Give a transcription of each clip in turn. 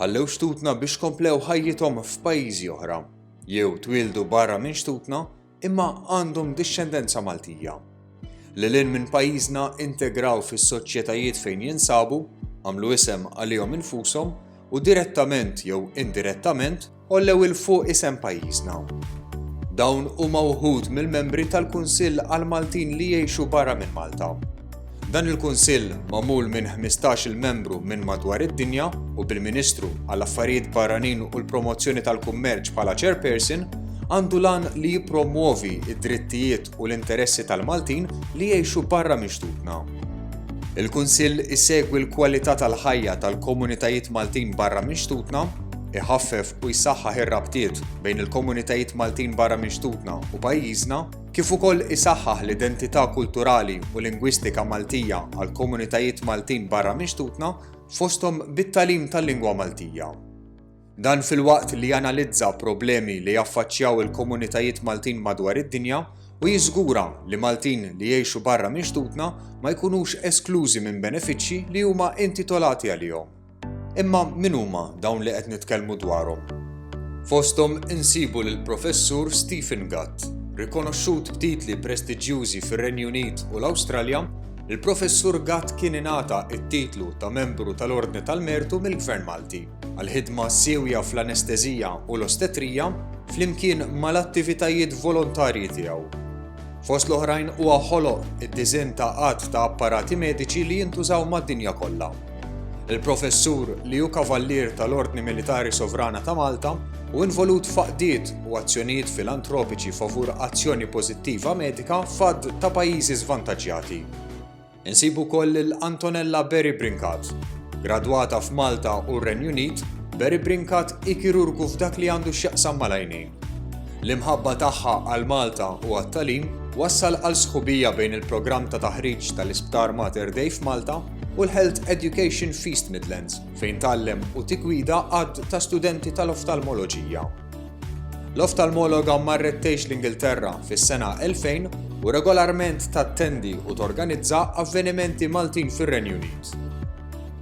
ħallew xtutna biex komplew ħajjithom f'pajjiżi oħra, jew twildu barra minn xtutna imma għandhom dixxendenza Maltija. Lilin minn pajjiżna integraw fis-soċjetajiet fejn jinsabu, għamlu isem għalihom infushom u direttament jew indirettament Għollew 'il fuq isem pajjiżna. Dawn huma wħud mill-membri tal-Kunsill għall-Maltin li jgħixu barra minn Malta. Dan il-Kunsill, magħmul minn 15-il membru minn madwar id-dinja u bil-Ministru għall-Affarijiet Barranin u l-Promozzjoni tal-Kummerċ bħala Chairperson, għandu l-għan li jippromwovi d-drittijiet u l-interessi tal-Maltin li jgħixu barra minn xtutna. Il-Kunsill isegwi l-kwalità tal-ħajja tal-komunitajiet Maltin barra minn xtutna, iħaffef u jsaħħaħ ir-rabtiet bejn il-komunitajiet Maltin barra minn xtutna u pajjiżna, kif ukoll isaħħaħ l-identità kulturali u lingwistika Maltija għall-komunitajiet Maltin barra minn xtutna, fosthom bit-tagħlim tal-lingwa Maltija. Dan filwaqt li janalizza problemi li jaffaċċjaw il-komunitajiet Maltin madwar id-dinja u jiżgura li Maltin li jgħixu barra minn xtutna ma jkunux esklużi minn benefiċċji li huma intitolati għalihom. Imma min huma dawn li qed nitkellmu dwarhom? Fosthom insibu lill-Professur Stephen Gatt, rikonoxxut b'titli prestiġjużi fir-Renju Unit u l-Awstralja, il-Professur Gatt kien ingħata t-titlu ta' Membru tal-Ordni tal-Mertu mill-Gvern Malti. għall-ħidma siewja fl-anestesija u l-ostetrija flimkien mal-attivitajiet volontarji tiegħu. Fost l-oħrajn huwa ħoloq id-diżinn ta' għadd ta' apparati mediċi li jintużaw mad-dinja kollha. Il-professur li hu kavallier tal-Ordni Militari Sovrana ta' Malta u involut f'għaqdiet u azzjonijiet filantropiċi favur azzjoni pożittiva medika f'għadd ta' pajjiżi żvantaġġjati. Insibu wkoll lil Antonella Berry Brincat. Gradwata f'Malta u r-Renju Unit, Berry Brincat hi kirurgu f'dak li għandu x'jaqsam mal-għajnejn. L-imħabba tagħha għal Malta u għat-tagħlim wassal għal sħubija bejn il-programm ta' taħriġ tal-Isptar Mater Dei f'Malta u l-Health Education f'East Midlands, fejn tgħallem u tiggwida għadd ta' studenti tal-oftalmoloġija. L-oftalmologa marret tgħix l-Ingilterra fis-sena 2000 u regolarment tattendi u torganizza avvenimenti Maltin fir-Renju Unit.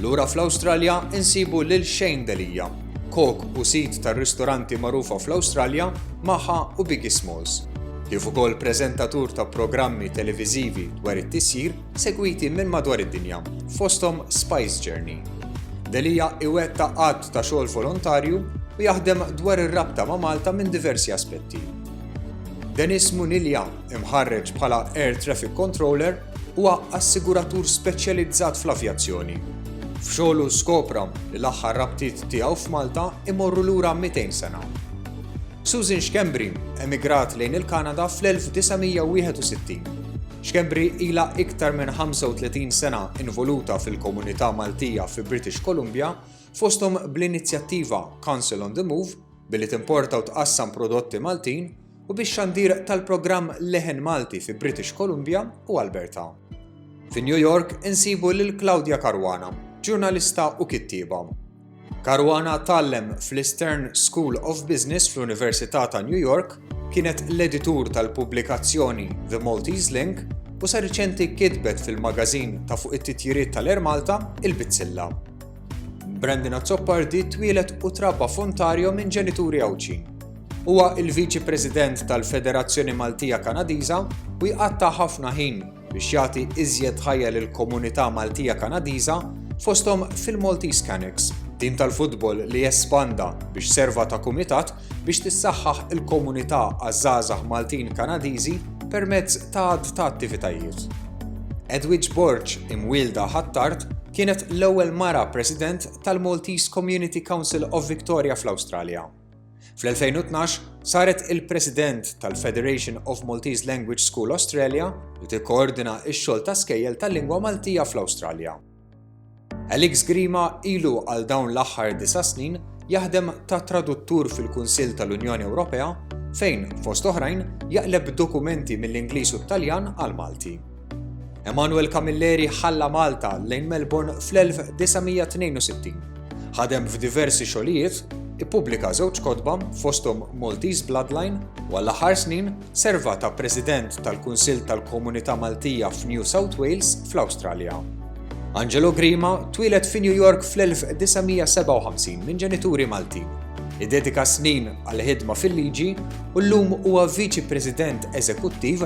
Lura fl-Awstralja insibu lil Shane Delia, kok u sid tar-ristoranti magħrufa fl-Awstralja Maha u Biggie Smalls, kif ukoll preżentatur ta' programmi televiżivi dwar it-tisjir segwiti minn madwar id-dinja, fosthom Spice Journey. Delia iwettaq għadd ta' xogħol volontarju u jaħdem dwar ir-rabta ma' Malta minn diversi aspetti. Denis Munilja, imħarreġ bħala Air Traffic Controller, huwa assiguratur speċjalizzat fl-avjazzjoni. F'xogħlu skopra li l-aħħar rabtiet tiegħu f'Malta imorru lura 200 sena. Susan Schembri emigrat lejn il-Kanada fl-1961 Schembri ilha iktar minn 35 sena involuta fil-komunità Maltija fi British Columbia, fosthom bl-inizjattiva Council on the Move, billi timporta u tqassam prodotti Maltin, u bix-xandir tal-programm Leħen Malti fi British Columbia u Alberta. Fi New York insibu lil Claudia Caruana, ġurnalista u kittieba. Caruana tgħallem fl-Eastern School of Business fl-Università ta' New York, kienet l-editur tal-pubblikazzjoni The Maltese Link u sa riċenti kitbet fil-magażin ta' fuq it-titjiriet tal-Air Malta il-Bizzilla. Brandon Azzopardi twieled u trabba f'Ontario minn ġenituri Għawdxi. Huwa il-Viċi President tal-Federazzjoni Maltija Kanadiża u jqatta' ħafna ħin biex jagħti iżjed ħajja lill-komunità Maltija Kanadiża fosthom fil-Maltese Canucks, tim tal-futbol li espanda biex serva ta' kumitat biex tissaħħaħ il-komunità għaż-żgħażagħ Maltin Kanadiżi permezz ta' għadd ta' attivitajiet. Edwidge Borg, imwielda Ħattart, kienet l-ewwel mara President tal-Maltese Community Council of Victoria fl-Awstralja. Fl-2012 saret il-President tal-Federation of Maltese Language School Australia li tikkoordina x-xogħol ta' skejjel tal-lingwa Maltija fl-Awstralja. Alex Grima ilu għal dawn l-aħħar disa' snin jaħdem ta' traduttur fil-Kunsill tal-Unjoni Ewropea fejn, fost oħrajn, jaqleb dokumenti mill-Ingliż u t-Taljan għal Malti. Emanuel Camilleri ħalla Malta lejn Melbourne fl-1962. Ħadem f'diversi xogħlijiet, ippubblika żewġ kotba fosthom Maltese Bloodline u għall-aħħar snin serva ta' President tal-Kunsill tal-Komunità Maltija f'New South Wales fl-Awstralja. Angelo Grima twieled fi New York fl-1957 minn ġenituri Maltin. Idedika snin għal ħidma fil-liġi u llum huwa viċi president eżekuttiv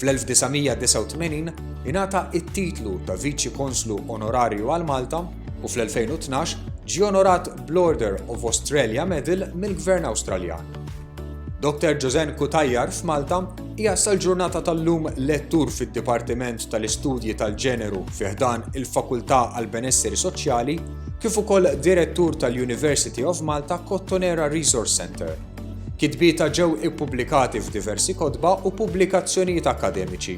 Fl-1989 ingħata t-titlu ta' Viċi Konslu Onorarju għal Malta u fl-2012 ġie onorat bl-Order of Australia Medal mill-Gvern Awstraljan. Dr. Joseanne Cutajar f'Malta hija sal-ġurnata tal-lum lettur fid-Dipartiment tal-Istudji tal-Ġeneru fi ħdan il-Fakultà għall-Benesseri Soċjali kif ukoll Direttur tal-University of Malta Kottonera Resource Centre. Kitbietha ġew ippubblikati f'diversi kotba u pubblikazzjonijiet akkademiċi.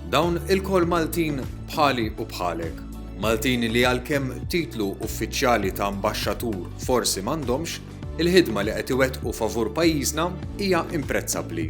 Dawn ilkoll Maltin bħali u bħalek. Maltin li għalkemm titlu uffiċjali ta' ambaxxatur forsi m'għandhomx, il-ħidma li qed iwettqu favur pajjiżna hija imprezzabbli.